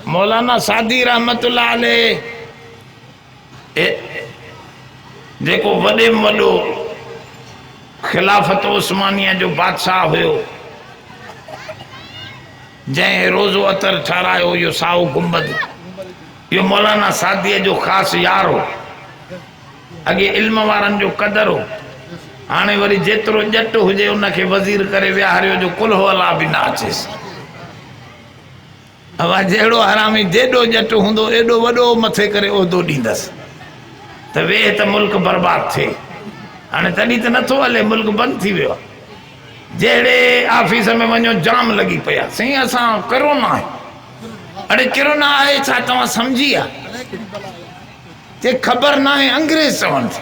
مولانا سعدي رحمة الله عليه جيڪو وڏي ۾ وڏو خلافت عثمانيه جو بادشاهه هيو جنهن روضو عطر ٺهرايو اهو سائو گنبد اهو مولانا سعدي جو خاص يار هو اڳي علم وارن جو قدر هو هاڻي وري جيترو ڄٽ هجي ان کي وزير ڪري ويهاريو جو ڪلهو الله به نه اچيس اھا جهڙو حرامي جيڏو ڄٽ هوندو ايڏو وڏو مٿي ڪري عهدو ڏيندس ته ويھ ته ملڪ برباد ٿئي هاڻي تڏهن ته نٿو هلي ملڪ بند ٿي ويو جهڙي آفيس ۾ وڃو جام لڳي پيا سائين اسان ڪرونا آهي اڙي ڪرونا آهي ڇا توهان سمجهي آ چي خبر ناهي انگريز چون ٿي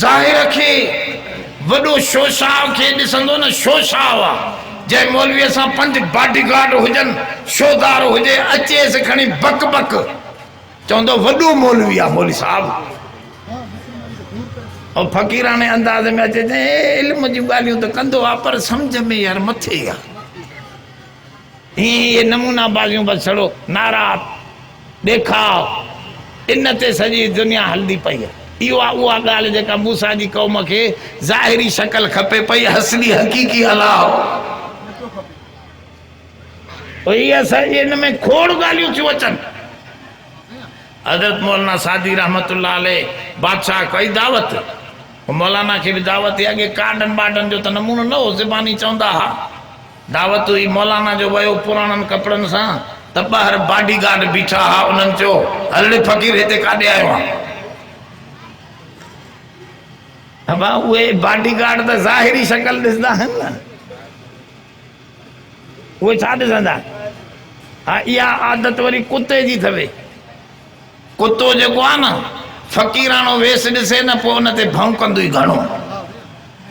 ظاهر کي وڏو شوشاء کي ڏسندو نه شوشاء آ جنهن مولويء سان پنج باڊي گارڊ هجن شوهدار هجي اچيس کڻي بڪ بڪ چوندو وڏو مولوي آ مولوي صاحب او فقيراڻي انداز ۾ اچي چي علم جون ڳالهيون ته ڪندو آ پر سمجھ ۾ يار مٿي آ هي نمونا بازيون بس ڇڙو نعرا ڏيکاء، ان تي سڄي دنيا هلندي پئي. اهو آهي اها ڳالهه جيڪا موسيٰ جي قوم کي ظاهري شڪل کپي پئي، اصلي حقيقي الله هو ئي آهي. سائين جي ان ۾ کوڙ ڳالهيون ٿيون اچن. حضرت مولانا سعدي رحمة الله عليه بادشاهه ڪئي دعوت. مولانا کي به دعوت هئي. اڳي ڪارڊن بارڊن جو ته نمونو نه هو، زباني چوندا ها. دعوت هئي مولانا جو ويو پراڻن ڪپڙن سان ته ٻاهر باڊي گارڊ بيٺا ها انهن چيو هلڙي فقير هتي ڪاڏي آيو آهين ابا اهي باڊي گارڊ ته ظاهري شڪل ڏسندا آهن نه اهي ڇا ڏسندا ها اها عادت وري ڪتي جي ٿوي ڪتو جيڪو آهي نه فقيراڻو ويس ڏسي نه پوء ان تي ڀونڪندو ئي گهڻو.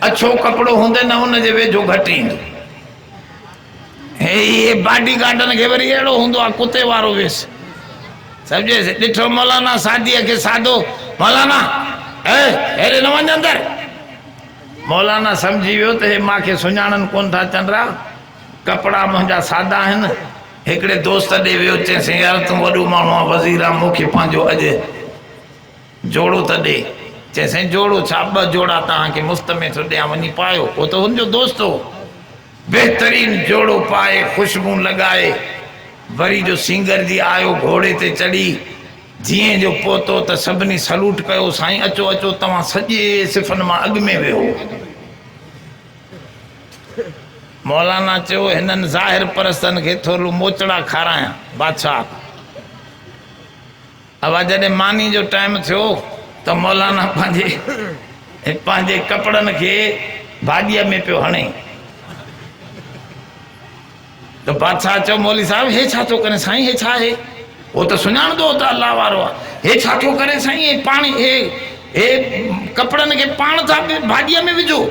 اڇو ڪپڙو هوندي نه ان جي ويجهو گهٽ ايندو. هيء باڊي گارڊن کي وري اهڙو هوندو آهي ڪتي وارو ويس. سمجهيس؟ ڏٺو مولانا ساديء کي سادو، مولانا! اي! هيڏي نه وڃ اندر. مولانا سمجهي ويو ته هي مان کي سڃاڻن ڪونه ٿا چنڊرا. ڪپڙا منهنجا سادا آهن. هڪڙي دوست ڏي ويو، چيسين، يار تون وڏو ماڻهو آهين، وزير آهين، مون کي پنهنجو اڄ جوڙو ته ڏي. چيسين، جوڙو ڇا، ٻه جوڙا توهان کي مفت ۾ ٿو ڏيان، وڃي پايو. هو ته هن جو دوست هو. بهترين جوڙو پائي، خوشبون لڳائي، وري جو سينگر جي آيو، گهوڙي تي چڙهي، جيئن جو پهتو ته سڀني سلوٽ ڪيو، سائين اچو اچو، توهان سڄي صفن مان اڳ ۾ ويهو. مولانا چيو، هنن ظاهر پرستن کي ٿورلو موچڙا کارايان. بادشاهه اوا جڏهن ماني جو ٽائيم ٿيو ته مولانا پنهنجي پنهنجي ڪپڙن کي ڀاڄيء ۾ پيو هڻي. ته بادشاهه چيو مولوي صاحب هي ڇا ٿو ڪرين سائين هي ڇا آهي هو ته سڃاڻندو هو ته الله وارو آهي هي ڇا ٿو ڪرين سائين هي پاڻي هي هي ڪپڙن کي پاڻ ٿا ڀاڄيء ۾ وجهو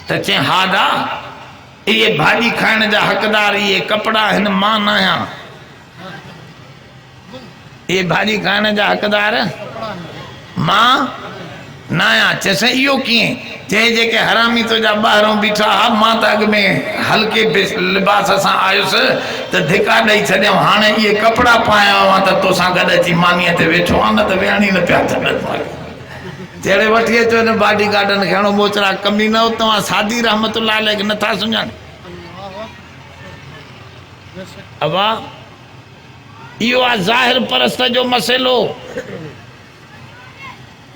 ته چئين ها دا اهي ڀاڄي کائڻ جا حقدار اهي ڪپڙا هن مان نه آهيان اهي ڀاڄي کائڻ جا حقدار مان نه آهيان. چيس اهو ڪيئن؟ چيس جيڪي حرامي تنهنجا ٻاهرون بيٺا ها مان ته اڳ ۾ هلڪي لباس سان آيس ته ڌڪا ڏئي ڇڏيائون هاڻي اهي ڪپڙا پايا آهيان ته توسان گڏ اچي مانيء تي ويٺو آهيان نه ته ويهڻ ئي نه پيا ڇڏن ماڳهين جهڙي وٺي اچو هن باڊي گارڊن کي هڻو ٻوچڙا ڪمينو توهان سعدي رحمت الله عليه کي نه ٿا سڃاڻيو. اوهان اهو آ ظاهر پرست جو مسئلو.